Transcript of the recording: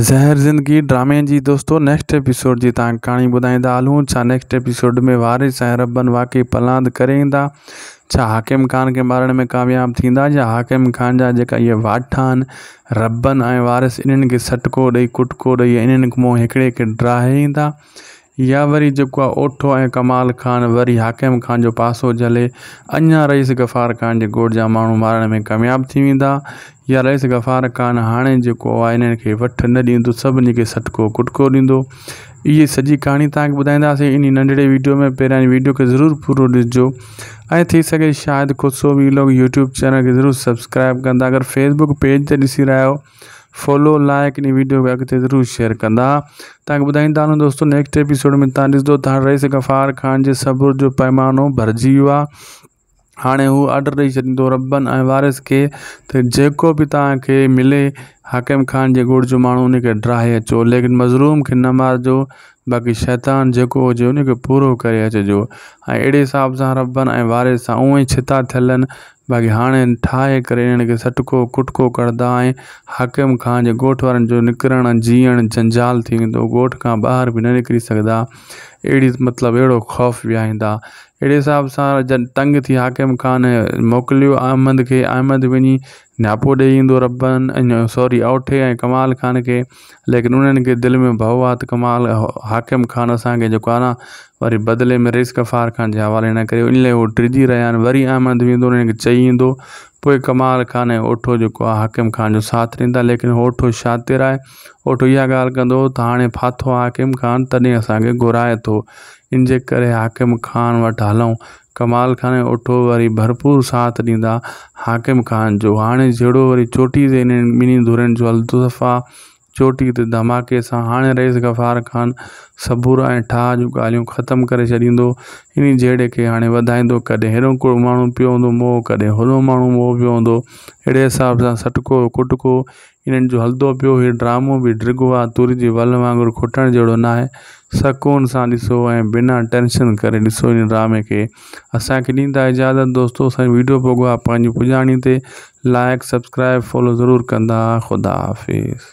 زهر زندگي ڊرامي جي دوستو نيڪسٽ ايپيسوڊ جي تان ڪهاڻي ٻڌائيندا هلون ڇا نيڪسٽ ايپيسوڊ ۾ وارث ۽ ربن واقعي پلاند ڪري ايندا ڇا حاڪم خان کي مارڻ ۾ ڪامياب ٿيندا يا حاڪم خان جا جيڪا اهي واٺا آهن ربن ۽ وارث انهن کي سٽڪو ڏئي ڪٽڪو ڏئي انهن مون هڪڙي کي ڊاهي ايندا يا وري جيڪو آ اوٺو ۽ ڪمال خان وري حاڪم خان جو پاسو جهلي اڃا رئيس غفار خان جي ڳوٺ جا ماڻهو مارڻ ۾ ڪامياب ٿي ويندا يا رئيس غفار خان هاڻي جيڪو آ انهن کي وٺ نه ڏيندو سڀني کي سٽڪو ڪٽڪو ڏيندو اهي سڄي ڪهاڻي توهان کي ٻڌائينداسين انهي ننڍڙي ويڊيو ۾ پهريان ويڊيو کي ضرور پورو ڏسجو ۽ ٿي سگهي Shahid Khusro vlog YouTube channel کي ضرور سبسڪرائب ڪندا اگر فيسبوڪ پيج تي ڏسي رهيا آهيو فالو لائڪ ان ويڊيو کي اڳتي ضرور شيئر ڪندا تانکي ٻڌائيندا هلون دوستو نيڪسٽ ايپيسوڊ ۾ تان ڏسدو ته هاڻي رئيس غفار خان جي صبر جو پيمانو ڀرجي ويو آهي هاڻي هو آرڊر ڏئي ڇڏيندو ربن ۽ وارث کي ته جيڪو به تان کي ملي حاڪم خان جي ڳوڙ جو ماڻهو ان کي ڊراهي اچو ليڪن مظلوم کي نه مارجو باقي شيطان جيڪو هجي ان کي پورو ڪري اچجو ۽ اهڙي حساب سان ربن ۽ وارث سان اونء ئي ڇتا ٿيل هن باقي هاڻي ٺاهي ڪري انهن کي سٽڪو ڪٽڪو ڪردا ۽ حاڪم خان جي ڳوٺ وارن جو نڪرڻ جيئڻ جنجال ٿي ويندو ڳوٺ کان ٻاهر به نه نڪري سگهدا اهڙي مطلب اهڙو خوف ويهائيندا اهڙي حساب سان جن تنگ ٿي حاڪم خان موڪليو احمد کي احمد وڃي نياپو ڏيئي ايندو ربن ۽ سوري اوٺي ۽ ڪمال خان کي ليڪن انهن کي دل ۾ ڀؤ آ ته ڪمال حاڪم خان اسان کي جيڪو آ نه وري بدلي ۾ رئيس غفار خان جي حوالي نه ڪريو ان لئي هو ڊڄي رهيا آهن وري احمد ويندو انهن کي چئي ايندو پوء ڪمال خان ۽ اوٺو جيڪو آ حاڪم خان جو ساٿ ڏيندا ليڪن اوٺو شاطر آهي اوٺو اها ڳالهه ڪندو ته هاڻي ڦاٿو آ حاڪم خان تڏهن اسان کي گهرائي ٿو انجي ڪري حاڪم خان وٽ هلون ڪمال خان ۽ اٺو وري ڀرپور ساٿ ڏيندا حاڪم خان جو، هاڻي جهيڙو وري چوٽي تي انهن ٻنهي ڌرين جو التفا، چوٽي تي ڌماڪي سان هاڻي رئيس غفار خان صبور ۽ ٺاهه جون ڳالهيون ختم ڪري ڇڏيندو، انهي جهيڙي کي هاڻي وڌائيندو ڪڏهن هيڏو ڪو ماڻهو پيو هوندو موهه ڪڏهن هوڏو ماڻهو موهه پيو هوندو، اهڙي حساب سان سٽڪو ڪٽڪو انهن جو هلدو پيو هي ڊرامو به ڊرگهو آ توري جي ول وانگر کوٽڻ جهڙو ناهي سڪون سان ڏسو ۽ بنا ٽينشن ڪري ڏسو ان ڊرامي کي اسان کي ڏيندا اجازت دوستو اسان ويڊيو پوگو آ پنهنجي پڄاڻي تي لائڪ سبسڪرائب فالو ضرور ڪندا خدا حافظ.